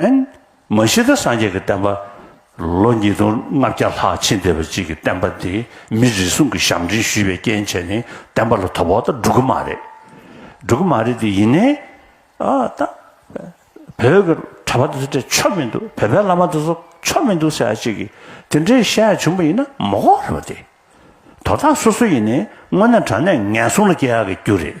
ཨན། མ་གཞི་བདག་སངས་རྒྱས་ཀྱི་བསྟན་པ། ལོ་ཉིས་སྟོང་ལྔ་བརྒྱ་ལྷག་ཕྱིན་བསྡད་པ་གཅིག་གིས་བསྟན་པ་འདི་མི་རེ་ཟུང་གིས་ཞབས་འདྲེན་ཞུས་པའི་རྐྱེན་བྱས་ནས་བསྟན་པ་ལ་དོ་ཕོག་དང་འགྲོ་གི་མ་རེད། འགྲོ་གི་མ་རེད་དེ་ཡིན་ནའི། ཨ་ད། བོད་ཀྱི་གྲྭ་པ་དེ་ཚོ་དེ་ཆོ་མི་འདུག་བོད་པའི་བླ་མ་དེ་ཚོ་ཆོ་མི་འདུག་ཟེར་ཡ་གཅིག་གིས་དེ་འདྲའི་བཤད་ཡ་བྱུང་པ་ཡིན་ན་མོ་ཀོག་རེད་པ་དེ། དོ་བདག་སོ་སོ་ཡིན་ནའི་དངོས་གནས་དྲང་གནས་ངན་སོང་ལ་སྐྱེ་ཡ་གི་རྒྱུ་རེད།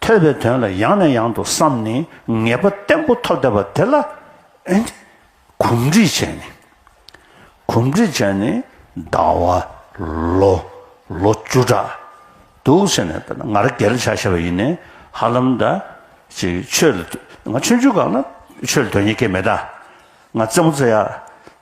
ཐོས་པའི་དོན་ལ་ཡང་ནས་ཡང་དུ་བསམས་ནས་ངེས་པ་བརྟན་པོ་ཐོབ་བསྡད་པ་དེ་ལ་གོམས་འདྲིས་བྱས་ནས། གོམས་འདྲིས་བྱས་ནས་ཟླ་བ་ལོ་ལོ་བཅུ་ཕྲག་འདུག་ཟེར་ནས་ང་ར་གལ་བྱ་ཤེས་པ་ཡིན་ནས་ཧ་ལམ་ད་ཅི་ཆོས་ལ་ང་ཆོས་འཇུག་གང་ན་ཆོས་ལ་དོན་གཉེར་སྐྱེ་མེད་ད་ང་རྩེ་མོ་རྩེ་ཡ།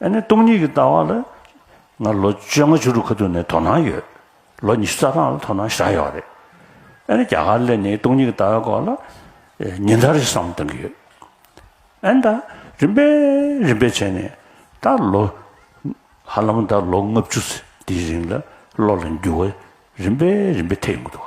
ཨ་ནེ་སྟོང་ཉིད་ཀྱི་ལྟ་བ་ལ། ང་ལོ་བཅོ་ལྔ་བཅུ་དྲུག་ཁ་ཐུག་ནས་དོ་སྣང་ཡོད། ལོ་ཉི་ཤུ་རྩ་གྲངས་ལ་དོ་སྣང་ཞག་ཡོད་རེད། ཨ་ནེ་རྒྱ་གར་ལས་ནི་སྟོང་ཉིད་ཀྱི་ལྟ་བའི་སྐོར་ལ། ཉིན་ལྟར་རེ་ཟུང་གཏང་གི་ཡོད། ཨ་ནེ་ད་རིམ་པས་རིམ་པས་བྱས་ནས་ད་ལོ། ཧ་ལམ་ད་ལོ་ལྔ་བཅུ་ཚེ་འདིའི་རིང་ལ་བློ་ལ་འགྱུར་བ་རིམ་པས་རིམ་པས་ཐེབས་ཡོང་གི་འདུག།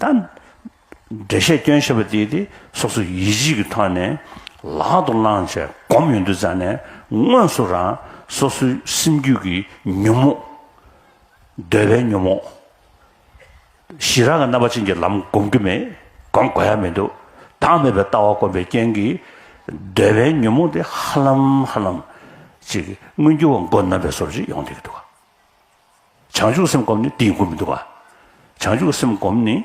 ད། འགྲེལ་བཤད་སྐྱོན་ཞེས་པ་འདིས་དེ་སོ་སོ་ཡིད་བཞིན་གྱི་ཐོག་ནས་ལག་ཏུ་བླངས་བྱས་སྒོམ་ཡོད་འདུག་རྩ་ནས་དངོས་སུ་རང་སོ་སོའི་སེམས་རྒྱུད་ཀྱི་ཉོན་མོངས། འདོད་པའི་ཉོན་མོངས། ཞི་རགས་ཀྱི་རྣམ་པ་ཅན་གྱི་ལམ་སྒོམ་རྒྱུ་མེད་སྒོམ་དགོས་ཡ་མི་འདུག་བདག་མེད་པའི་ལྟ་བ་སྒོམ་པའི་རྐྱེན་གྱིས། འདོད་པའི་ཉོན་མོངས་དེ་ཧ་ལམ་ཧ་ལམ། ཅིག་མངོན་གྱུར་བ་མགོ་རྣམ་པའི་སོར་བཞི་ཡོང་སྡད་ཀྱི་འདུག། བྱང་ཆུབ་སེམས་བསྒོམས་ནས་དེའི་སྒོ་མི་འདུག་ག། བྱང་ཆུབ་སེམས་བསྒོམས་ནས།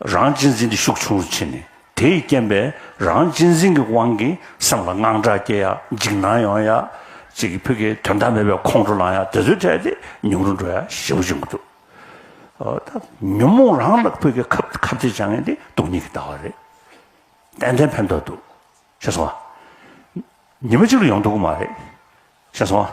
རང་གཅེས་འཛིན་དེ་ཤུགས་ཆུང་རུ་ཕྱིན་ནས། དེས་རྐྱེན་པས་རང་གཅེས་འཛིན་གྱི་དབང་གིས་སེམས་ལ་དངངས་སྐྲག་སྐྱེ་ཡ། འཇིགས་སྣང་ཡོང་ཡ། ཅིག་གིས་ཕུད་ཀྱི་དོན་དག་མེད་པའི་ཁོང་ཁྲོ་ལངས་ཡ་དེ་ཚོའི་གྲས་དེ་ཉུང་རུ་འགྲོ་ཡ་ཞེ་བོ་བྱུང་གི་འདུག་གདའ། ཉོན་མོངས་རང་ལ་ཕུད་ཀྱི་ཁབ་ཁབ་ཅིག་བྱང་ངེས་དེ་སྡུག་ཉིད་ཀྱི་ལྟ་བ་རེད། ཏན་ཏན་ཕན་ཐོགས་འདུག་ཤེས་སོང་ང། ཉི་མ་གཅིག་ལ་ཡོང་ཐུབ་ཀྱི་མ་རེད། ཤེས་སོང་ང།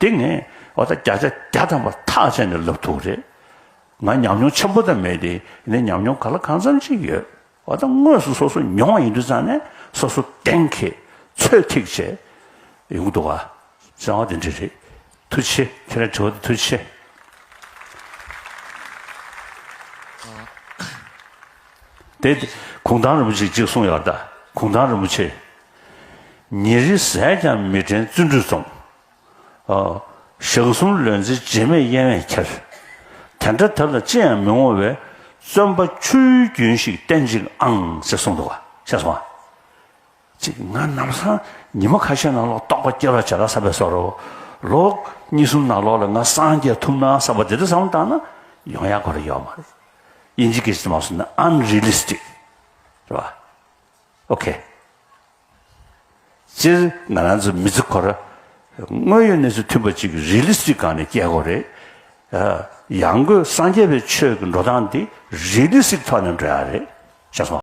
དེ་ངས་འོ་ད་བརྒྱ་ཆ་བརྒྱ་ཐམ་པར་ཐག་བཅད་ནས་ལབ་ཐུག་རེད། ང་ཉམས་མྱོང་ཆེན་པོ་དང་མེད་དེ་ནས་ཉམས་མྱོང་ག་ལ་གང་འཚམ་ཅིག་ཡོད། འོ་ད་དངོས་སུ་སོ་སོ་མྱོང་བ་ཡིན་དུས་ཙང་ནས་སོ་སོ་གཏན་འཁེལ་ཚོད་ཐིག་བྱས་ཡོང་གི་འདུག་ཨ། བྱ་བ་དེ་འདྲ་རེད། ཐུགས་ཆེ་ཁྱེད་རང་དྲི་བ་དེ་ཐུགས་ཆེ། དེ་གུང་ཐང་རིན་པོ་ཆེས་གཅིག་གསུངས་ཡག་གདའ་གུང་ཐང་རིན་པོ་ཆེ་ཉིན་རེ་ཟས་ཀྱང་མི་དྲན་བརྩོན་འགྲུས་རྩོམ། ཞག་གསུམ་ལོན་ཚེ་རྗེས་མེད་གཡེང་བས་ཁྱེར། དེ་འདྲ་དེ་ལ་ཅི་ཡང་མི་ངོ་བས། བརྩོན་པ་ཆུའི་རྒྱུན་ཞིག་བསྟེན་ཅིག་ཨང་ཞེས་གསུངས་འདུག་ཤེས་སོང། ཅིག་ང་ནམ་སང་ཉི་མ་ཁ་ཤས་ནང་ལོག་རྟོགས་པ་སྐྱེ་བར་བྱ་ལ་བསམ་པའི་སོར་རོ། ལོ་གཉིས་གསུམ་ནང་ལོག་ལ་ང་སངས་རྒྱས་ཐུབ་ནའང་བསམ་པ་དེ་འདྲ་བསམ་བློ་བཏང་ན་ཡོང་ཡ་གོ་རེ་ཡོད་མ་རེད། དབྱིན་ཇི་སྐད་ཅིག་ཏུ་མ་སོང་ན Unrealistic། རེད་པ། ཨོ་ཁེ། སྤྱིར་ང་རང་ཚོ་མི་ཚེ་ཁོ་ར། དངོས་ཡོད་གནས་ཚུལ་མཐུན་པ་ཅིག་རི་ལི་སི་སྒང་ནས་སྐྱེས་སྒོ་རེད། ཡང་སྒོས་སངས་རྒྱས་པའི་ཆོས་ཀྱི་འགྲོ་སྟངས་འདི་རི་ལི་སི་ཐོག་ནས་འགྲོ་ཡ་རེད། ཤ་སོང།